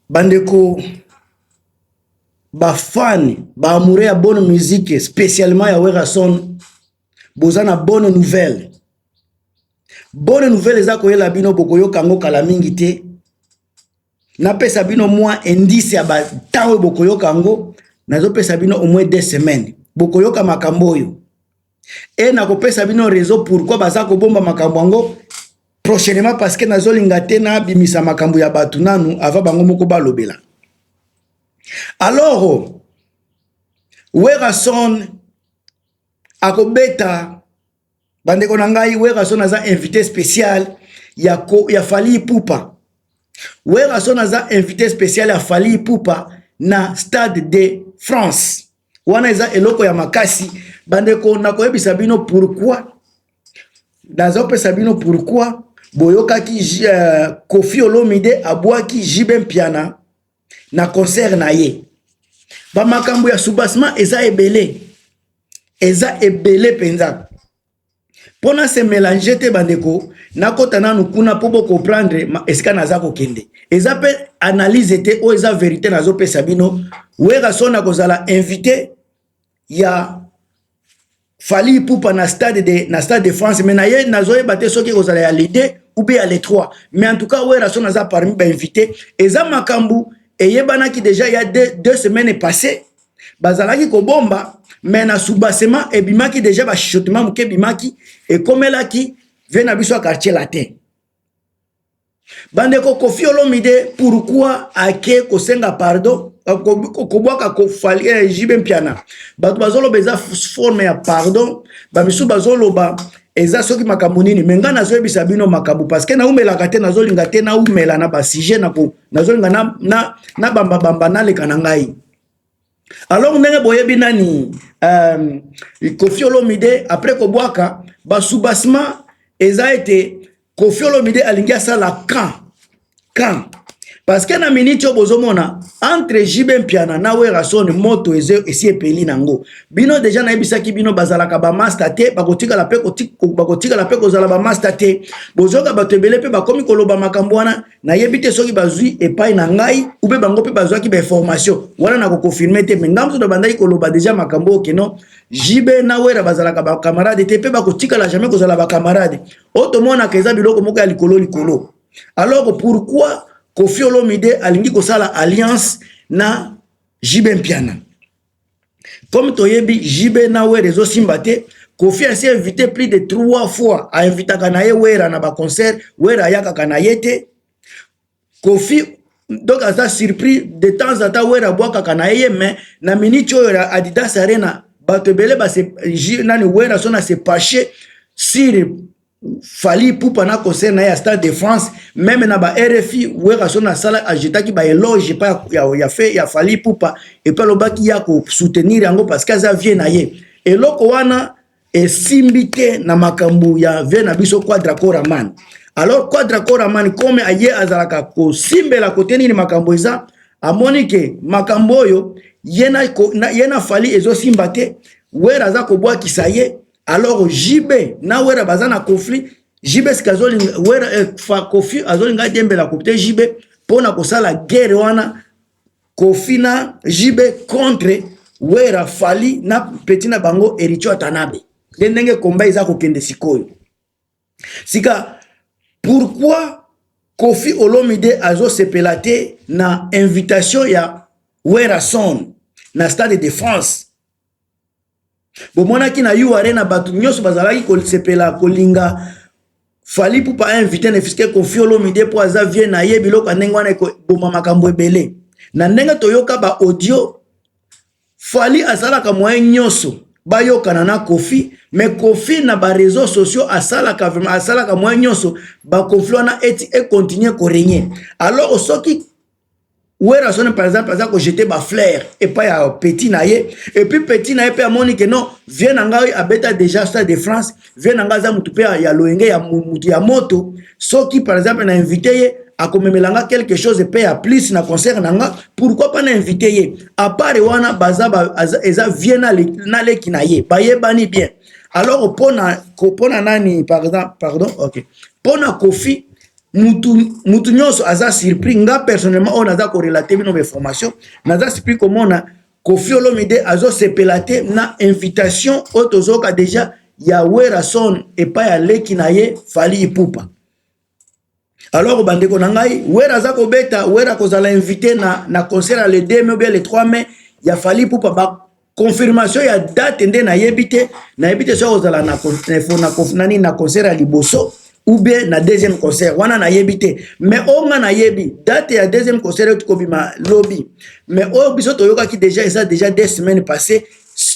bandeko bafani baamoure ya bonne musique spécialement ya werason boza na bonne nouvelle bonne nouvelle eza koyela bino bokoyoka yango kala mingi te napesa bino mwa indice ya bantango oyo bokoyoka yango nazopesa bino au moins deux semaines bokoyoka makambo oyo e nakopesa bino raison pourquoi baza kobomba makambo yango prochainement parce que nazolinga te nabimisa makambo ya bato nanu ava bango moko balobela alors werason akobeta bandeko na ngai werason aza invité spécial ya, ko, ya fali ipupa werason aza invité spécial ya fali ipupa na stade de france wana eza eloko ya makasi bandeko nakoyebisa bino pourquoi nazopesa bino pourquoi boyokaki uh, kofi olomide abwaki jb mpiana na concert na ye bamakambo ya soubassement eza ebele eza ebele mpenza mpo na se melange te bandeko nakota nanu kuna mpo bocomprendre esika naza kokende eza mpe analyse te oyo eza verité nazopesa bino werason akozala invité ya fali ipupa na stade de, na stade de france mai naye nazoyeba te soki ekozala ya lide ube ya le 3 mais en tout cas werason aza parmi bainvité eza makambo eyebanaki deja ya deux, deux semaines passées bazalaki kobomba me na subasema ebimaki deja bashotema moke ebimaki ekomelaki vie na biso ya quartier latin bandeko kofi olomide pourkui ake kosenga pardon euh, kobwaka kofali eh, jibe mpiana bato bazoloba eza forme ya pardon bamisusu bazoloba eza soki makambo nini me ngai nazoyebisa bino makambo parceke naumelaka te nazolinga te naumela na basujet nazolinga nabambabamba na naleka na ngai alors ndenge boyebi nani euh, kofi olomide après kobwaka basubasma eza ete kofi olomide alingi asala camp camp parce que na miniti oyo bozomona entre jb mpiana na werason moto esi epeli nango bino deja nayebisaki bino bazalaka bamasta te bakotikala mpe bakotikala mpe kozala bamasta te bozoyoka bato ebele mpe bakomi koloba makambo wana nayebi te soki bazwi epai na ngai upe bango mpe bazwaki bainformation wana na kokonfirme te me ngai mosusu nabandaki koloba deja makambo oyo keno jb na wera bazalaka bacamarade te mpe bakotikala jamais kozala bacamarade oyo tomonaka eza biloko moko ya likolo likolo alors pourquoi kofi olomide alingi kosala alliance na jb mpiana comme toyebi JB na Wera ezosimba te Kofi asi invité plus de trois fois a invitaka na ye Wera na ba concert Wera ayakaka na ye te Kofi donc aza surpris de temps à temps Wera abwakaka na ye mais na minute oyo ya Adidas Arena bato ebele base nani Wera sona se pache sur Fally Ipupa na concert na ya Stade de France même na ba RFI Werrason asala ajetaki ba éloge pa ya, ya, fait, ya Fally Ipupa epe alobaki ya ko soutenir yango parce que aza vie na ye eloko wana esimbi te na makambo ya vie na biso Quadra Coraman alors Quadra Coraman comme aye azalaka kosimbela kote nini makambo eza amoni ke makambo oyo ye na Fally ezosimba te Werra aza kobwakisa ye alors JB na Wera baza na conflit JB sika azolinga Wera eh, fa Kofi azolinga diembela kopte JB pona kosala guerre wana Kofi na JB contre Wera Fali na petit na bango Ericho Atanabe nde ndenge komba eza kokende sikoyo sika pourquoi Kofi Olomide azosepela te na invitation ya Werrason na Stade de France bomonaki na u arena bato nyonso bazalaki kosepela kolinga fali pupa invité ne fiske kofi olomide mpo aza vie na ye biloko ya ndenge wana ekoboma makambo ebele na ndenge toyoka ba audio fali asalaka moye nyonso bayokana na kofi me kofi na bareseau sociaux asalaka vraimen asalaka moye nyonso bakonfli wana eti ekontinue koregne alors soki werrason par exemple aza kojete baflaire epai ya petit na ye epuis petit na ye mpe amoni ke non vie na ngai abeta déjà stade de france vie na ngai aza motu mpe ya loyenge ya motu ya moto soki par exemple na invite ye akomemela nga quelque chose mpe ya plus na concert na nga pourquoi pas na invite ye apart wana baza ba, eza vie na, le, na leki na ye bayebani bien alors mpona mpona nani pardon, pardon ok mpona kofi mutu mutu nyonso aza surpris nga personnellement oyo naza korelate bino bainformation naza surpris komona kofi olomide azosepela te na invitation oyo tozoyoka deja ya werason epai ya leki na ye fali ipupa alors bandeko na ngai wera aza kobeta wera akozala invité na, na concert ya le 2 mai obia le 3 mai ya fali ipupa confirmation ya date nde nayebi te nayebi te soki ozala na nani na concert ya liboso ou bien na deuxième concert wana nayebi te mais oyo nga nayebi date ya deuxième concert euti kobima lobi mais oyo biso toyokaki déjà eza déjà deux semaines passé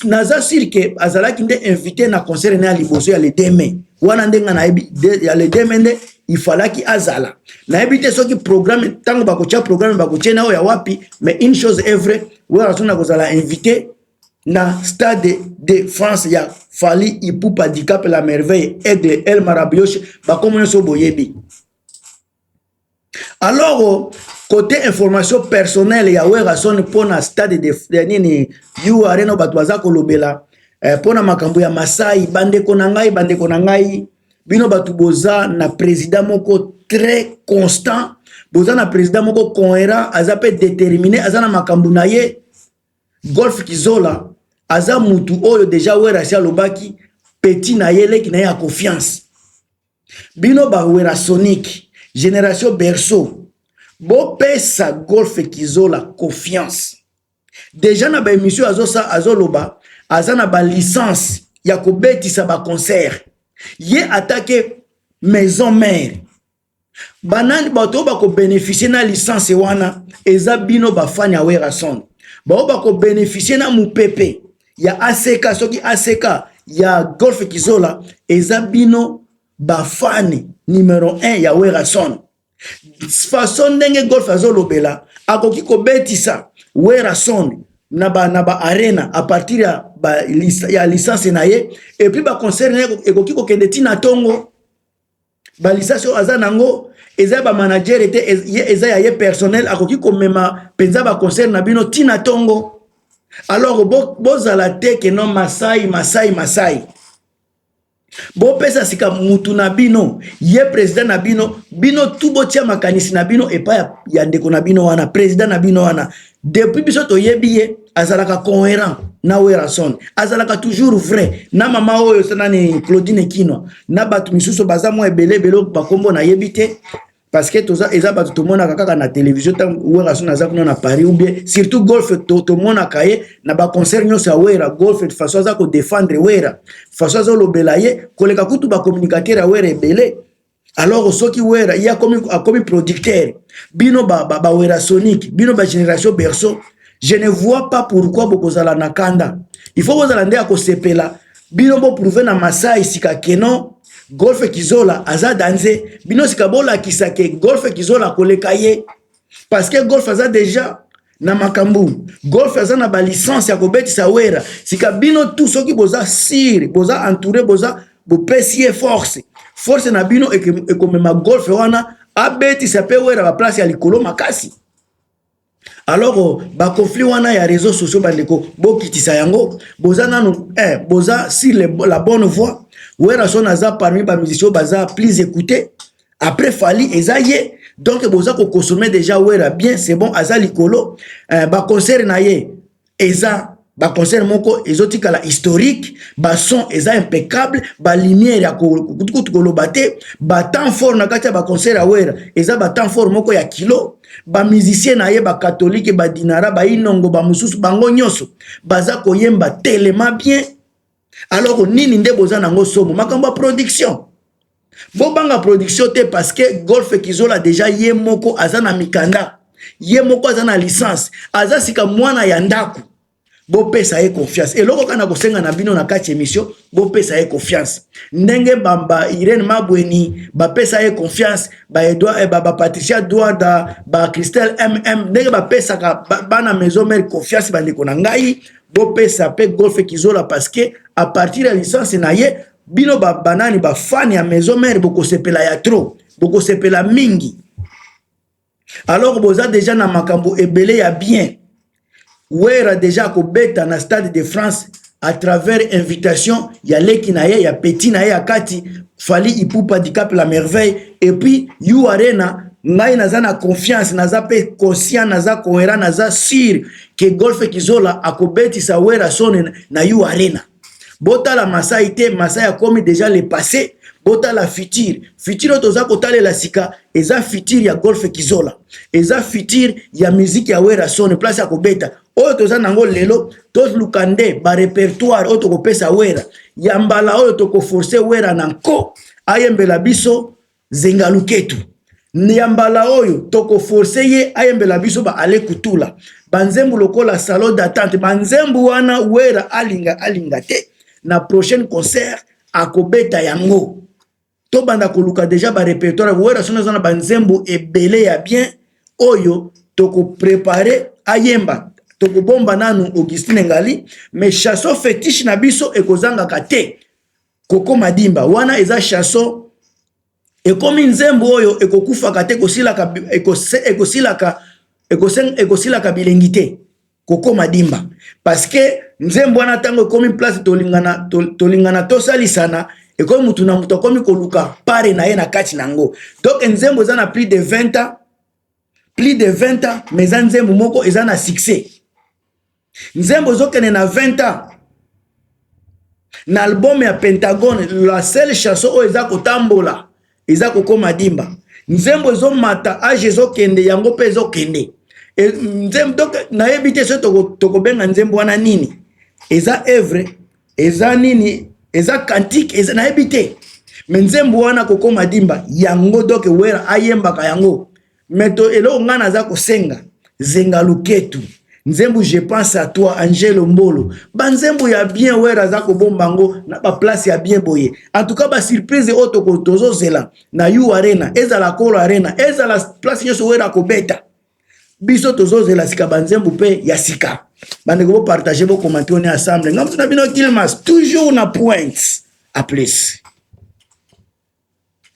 naza sur ke azalaki nde invité na concert na ya liboso ya le 2 mai wana nde nga nayebi ya le 2 mai nde ifalaki azala nayebi te soki programme ntango bakotya programme bakotye na oyo ya wapi mais une chose est vraie werra soni akozala invité na stade de france ya fali ipupa dicap la merveille aigle el marabioshe bakomo nyonso boyebi alors kote information personnele ya werrason mpo na stade de, de nini u arena bato baza kolobela eh, mpo na makambo ya masai bandeko na ngai bandeko na ngai bino bato boza na president moko très constant boza na president moko cohérent aza mpe déterminé aza na makambo na ye golf kizola aza mutu oyo deja werasi alobaki petit na ye leki na ye ya confiance bino bawerasonique génération berceau bopesa golf kizola confiance deja na ba emission azo sa azo loba aza na ba licence ya kobetisa ba concert ye atake maison mère banani bato oyo bakobeneficie na licence wana eza bino bafani ya werrason baoyo bakobeneficie na mopepe ya aseka soki aseka ya golfe kizola eza bino bafani numero 1 ya werrason façon ndenge golf azolobela akoki kobetisa werrason na ba, na ba arena à partir ya, ba, ya licence na ye et puis ba concert na ye ekoki kokende ti na tongo ba licence oyo aza nango eza ba manager ete eza ya ye personnel akoki komema penza ba concert na bino ti na tongo alors bozala bo te ke non masai masai masai bopesa sika mutu na bino ye president na bino bino tu botia makanisi na bino epai ya, ya ndeko na bino wana president na bino wana depuis biso toyebi ye azalaka coherent na werrason azalaka toujours vrai na mama oyo sanani claudine kinwa na bato misusu baza mwa ebele ebele bakombo nayebi te parce que toza eza bato tomonaka kaka na télévision ntango wera soni aza kuna na paris ou bien surtout golf tomonaka to ye na baconcert nyonso ya wera golf de façon aza kodefendre wera façon azolobela ye koleka kutu bacommunicateur ya wera ebele alors soki wera ye akomi, akomi producteur bino bawera ba, ba sonique bino bagénération berceau je ne vois pas pourquoi bokozala na kanda il faut bozala nde ya kosepela bino boprouve na masai sika kenon golfe kizola aza danze bino sika bolakisa ke golfe kizola koleka ye parceke golfe aza deja na makambo golfe aza na balicence ya kobetisa wera sika bino tu soki boza sire boza entoure boza bopesi ye force force na bino ekomema golfe wana abetisa mpe wera baplace ya likolo makasi alors oh, ba conflit wana ya réseaux sociaux bandeko bokitisa yango boza nanu eh, boza si le, la bonne voie werrason aza parmi bamusicien baza plus écouté après fali eza ye donc boza kokonsome déjà wera bien c'est bon aza likolo eh, baconcert na ye eza ba concert moko ezotikala historique ba son eza impeccable ba lumière ya kutukutu koloba te ba temps fort na kati ya ba concert ya wera eza ba temps fort moko ya kilo ba musicien na ye ba katolike ba dinara ba inongo ba mosusu bango nyonso baza koyemba telema bien alors nini nde boza nango somo makambo ya production bobanga production te parce que golfe kizola deja ye moko aza na mikanda ye moko aza na licence aza sika mwana ya ndako bopesa ye confiance eloko kaka na kosenga na bino na kati emission bopesa ye confiance ndenge bamba irene mabweni bapesa ye confiance baedouard eh, bapatricia ba duarda bacristel mm ndenge bapesaka bana maison mare confiance bandeko na ngai bopesa pe golfe kizola parce que à partir ya licence na ye bino ba banani ba fan ya maison mère bokosepela ya trop bokosepela mingi alors boza deja na makambo ebele ya bien wera deja akobeta na stade de france à travers invitation ya leki na ye ya petit na ye ya kati fali ipupa dicap la merveille et puis you arena ngai naza na confiance naza pe conscient naza cohérent naza sur ke golfe kizola akobetisa werrason na u arena botala masai te masai akomi deja le passé botala futur futur oyo toza kotalela sika eza futur ya golfe kizola eza futur ya miziki ya werrason place ya kobeta oyo toza nango lelo toluka nde barepertoire oyo tokopesa wera ya mbala oyo tokoforce wera na nko ayembela biso zenga luketu ya mbala oyo tokoforce ye ayembela biso ba ale kutula banzembu lokola salon d'attente banzembu wana wera alinga alinga te na prochaine concert akobeta yango tobanda koluka deja barepertoire wera soki aza na banzembu ebele ya bien oyo tokoprepare ayemba tokobomba nanu augustine ngali mais chason fetiche na biso ekozangaka te koko madimba wana eza chanson ekomi nzembo oyo ekokufaka te ekosilaka ekosilaka ekosilaka bilengi te koko madimba parce que nzembo wana ntango ekomi place tolingana tolingana tosalisana ekomi motu na moto akomi koluka pare na ye na kati na yango donc nzembo eza na plus de 20 ans plus de 20 ans mais eza nzembo moko eza na succès nzembo ezokende na 20 ans na album ya pentagone la seule chanson oyo eza kotambola eza kokoma dimba nzembo ezomata age ezokende yango mpe ezokende e, nzembo donc nayebi te so tokobenga nzembo wana nini eza evre eza nini eza kantike eza nayebi te me nzembo wana kokoma dimba yango doke wera ayembaka yango mais to eloko ngai naza kosenga zenga luketu nzembo je pense à toi angelo mbolo banzembo ya bien were aza kobomba yango na baplace ya bien boye en tout cas basurprise oyo toko tozozela na u arena ezala kolo arena ezala place nyonso were akobeta biso tozozela sika banzembo mpe ya sika bandeko bopartage bokomante one ensemble ngamtu na bino kilmas toujours na pointe a plus